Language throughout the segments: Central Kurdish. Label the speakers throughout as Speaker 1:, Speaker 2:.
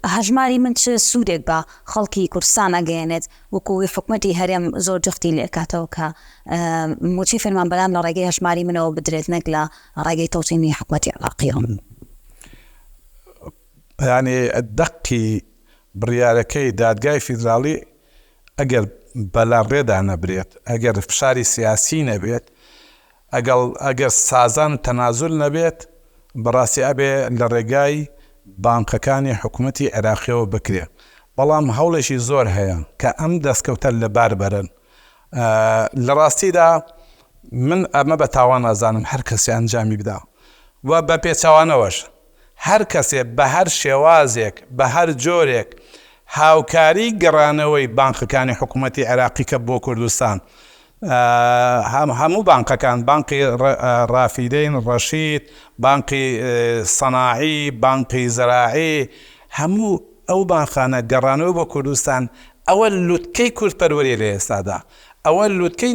Speaker 1: هەژماری من چ سوودێک بە خەڵکی کوردستان ئەگەیەنێت وەکو وی حکومەتی هەرێم زۆر جەختی لێکاتەوە کە مووچەی فەرمانبەران لە ڕێگەی هەژماری منەوە بدرێت نەک لە ڕێگەی تەوتینی حکومەتی عێراقیەوە.
Speaker 2: بەیانیی دەقی بڕیارەکەی دادگای فیدراڵی ئەگەر بەلاڕێدا نەبرێت، ئەگەر فشاری سیاسیی نەبێت، ئەگەڵ ئەگەر سازان تەنازول نەبێت بەڕاستی ئەبێ لە ڕێگای بانقەکانی حکومەتی عێراقیەوە بکرێ بەڵام هەوڵێکی زۆر هەیە کە ئەم دەستکەوتە لە بار بەرن لە ڕاستیدا من ئەمە بە تاوان ئەزانم هەر کەسێ ئەنجامی بدا و بە پێچەوانەوەش هەر کەسێ بە هەر شێوازێک بە هەر جۆرێک هاوکاری گەڕانەوەی بانقەکانی حکوومەتی عێراقی کە بۆ کوردستان هەموو بانقەکان بانقی ڕافیدەین ڕەشید بانقی سەناعی بانقی زەراعی هەموو ئەو بانقانە گەڕانەوە بۆ کوردستان ئەوە لوتکەی کوردپەروەریە لە ئێستادا. ئەوە لوتکەی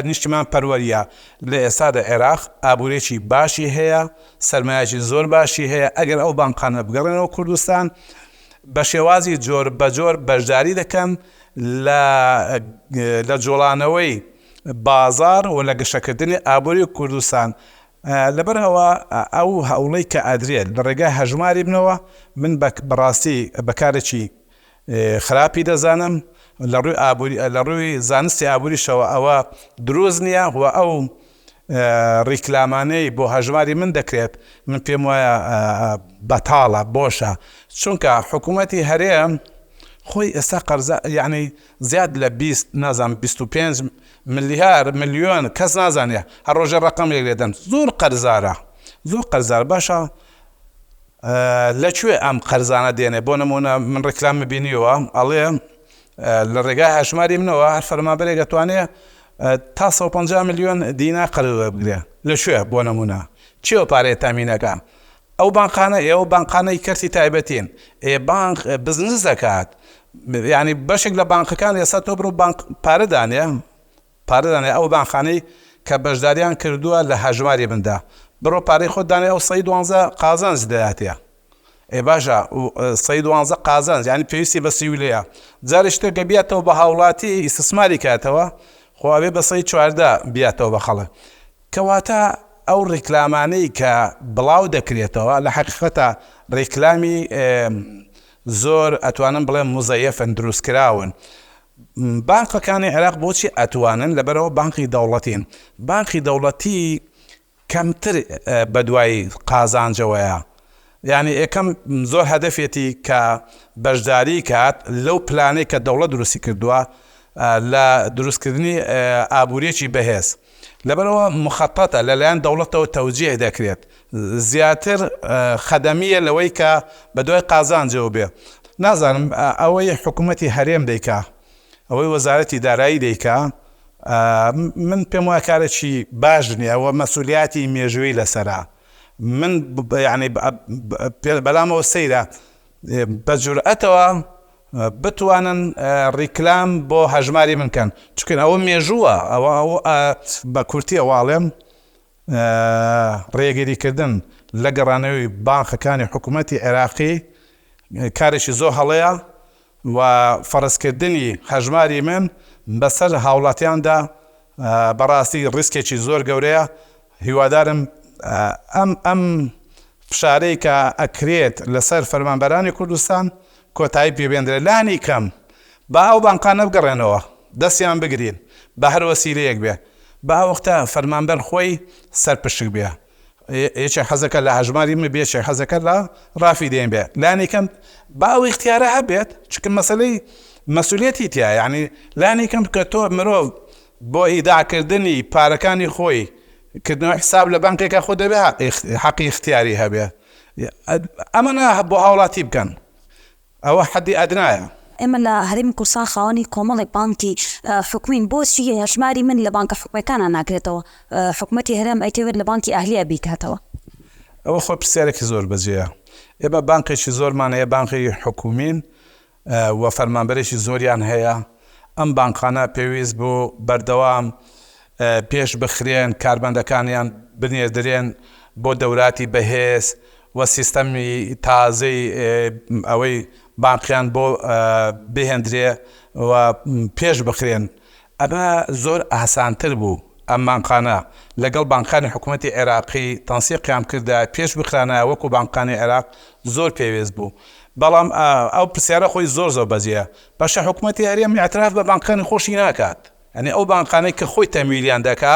Speaker 2: نیشتیمان پەروەریە لە ئێستادا عێراق ئابورێکی باشی هەیە سەرمایەکی زۆر باشی هەیە ئەگەر ئەو بانقانە بگەڕێنەوە کوردستان بە شێوازی جۆر بە جۆر بەشداری دەکەن لە لە جۆڵانەوەی بازار و لە گەشەکردنی ئابوری کوردستان لە بەر ئەوە ئەو هەوڵەی کە ئەدرێت لە ڕێگای هەژماری بنەوە من بە بەڕاستی بە کارێکی خراپی دەزانم لە ڕووی ئابووری لە ڕووی زانستی ئابووریشەوە ئەوە دروست نییە و ئەو ڕیکلامانەی بۆ هەژماری من دەکرێت من پێم وایە بەتاڵە بۆشە چونکە حکوومەتی هەرێم خۆی ئێستا قەرزە یعنی زیاد لە بیست نازانم بیست و پێنج ملیار ملیۆن کەس نازانێ هەر ڕۆژێ ڕەقەمێک لێ دەن زۆر قەرزارە زۆر قەرزارە باشە لە کوێ ئەم قەرزانە دێنێ بۆ نمونە من ڕیکلامم بینیوە ئەڵێ لە ڕێگای هەژماری منەوە هەر فەرمانبەرێک ئەتوانێ تا سەد و پەنجا ملیۆن دینار قەرز وەربگرێ لە کوێ بۆ نمونە کێوە پارەیە تامین ئەکا ئەو بانقانە ئێوە بانقانەی کەرتی تایبەتین ئێ بانق بزنس دەکات یانی بەشێک لە بانقەکان ئێستا تۆ بڕۆ بانق پارە دانێ پارە دانێ ئەو بانخانەی کە بەژداریان کردوە لە هەژماری من دا بڕۆ پارەی خۆت دانێ ئەو سەی دوانزە قازانج دەداتێ ئێ باشە سەی دوانزە قازانج یانی پێویستی بە سیولەیە جارێ شتێ گە بیاتەوە بە هاوڵاتی ئیسسماری کاتەوە خۆ ئەبێ بە سەی چواردە بیاتەوە بە خەڵک کەواتە ئەو ڕیکلامانەی کە بڵاو دەکرێتەوە لە حەقیقەتە ڕیکلامی زۆر ئەتوانم بڵێم موزەیەفن دروست کراون بانقەکانی عێراق بۆچی ئەتوانن لەبەرئەوە بانقی دەوڵەتین بانقی دەوڵەتی کەمتر بەدوای قازانجەوەیە یانی یەکەم زۆر هەدەفێتی کە بەشداری کات لەو پلانەی کە دەوڵەت دروستی کردووە لە دروستکردنی ئابوریەکی بەهێز لەبەرئەوە مخططە لەلایەن دەوڵەتەوە تەوجیه دەکرێت زیاتر خەدەمیە لەوەی کە بەدوای قازانجەوە بێ نازانم ئەوەی حکومەتی هەرێم دەیکا ئەوەی وەزارەتی دارایی دەیکا من پێم وایە کارێکی باش نیە وە مەسولیاتی مێژووی لەسەرە من یانی بەلامەوە سەیرە بەجورئەتەوە بتوانن ڕیکلام بۆ هەژماری من کەن چونکن ئەوە مێژووە ئەوە ئەو بە کورتی ئەواڵێم ڕێگری کردن لە گەڕانەوەی بانخەکانی حکوومەتی عێراقی کارێکی زۆر هەڵەیە و فەرزکردنی هەژماری من بەسەر هاوڵاتیاندا بەڕاستی ڕیسکێکی زۆر گەورەیە هیوادارم ئەم ئەم فشارەی کە ئەکرێت لەسەر فەرمانبەرانی کوردستان کۆتایی پێ بێندرێت لانی کەم با ئەو بانقانە بگەڕێنەوە دەستیان بگرین بە هەر وەسیلەیەک بێ با وەختە فەرمانبەر خۆی سەر پشک بێ یەکێک حەزەکە لە هەژماری من بێ یەکێک حەزەکە لە ڕافی دێن بێ لانی کەم با ئەو اختیارە هەبێت چکە مەسلەی مەسولیەتی تیا یعنی لانی کەم کە تۆ مرۆڤ بۆ ئیداع کردنی پارەکانی خۆی کردنەوەی حساب لە بانکێکا خۆ دەبێ حەقی اختیاری هەبێ ئەمەنە بۆ هاوڵاتی بکەن ئەوە حەدی ئەدنایە. ئێمە لە هەرێمی
Speaker 1: کوردستان خاوەنی کۆمەڵێک بانکی حکومین بۆچی هەژماری من لە بانکە حکومیەکانا ناکرێتەوە حکومەتی هەرێم ئەیتەوێت لە بانکی ئەهلیە بیکاتەوە؟ ئەوە خۆی
Speaker 2: پرسیارێکی زۆر بەجێیە ئێمە بانکێکی زۆرمان هەیە بانکی حکومین، و فەرمانبەرێکی زۆریان هەیە، ئەم بانقانە پێویست بوو بەردەوام پێش بخرێن، کارمەندەکانیان بنێردرێن بۆ دەوراتی بەهێز و سیستەمی تازەی ئەوەی بانقیان بۆ بهێندرێ و پێش بخرێن، ئەمە زۆر ئاسانتر بوو، ئەم بانقانە لەگەڵ بانقانی حکومەتی عێراقی تەنسیقیان بکردایە پێش بخرانایە وەکو بانقانی عێراق زۆر پێوێست بوو، بەڵام ئەو پرسیارە خۆی زۆر زۆر بەجێیە، باشە حکومەتی هەرێم ئیعتراف بە بانقانی خۆشی ناکات، یانی ئەو بانقانەی کە خۆی تەمویلیان دەکا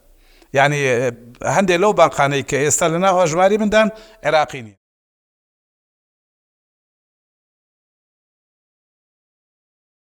Speaker 2: یانی هەندێک لەو باقانەی کە ئێستا لەناو هەژماری مندان عێراقی نین.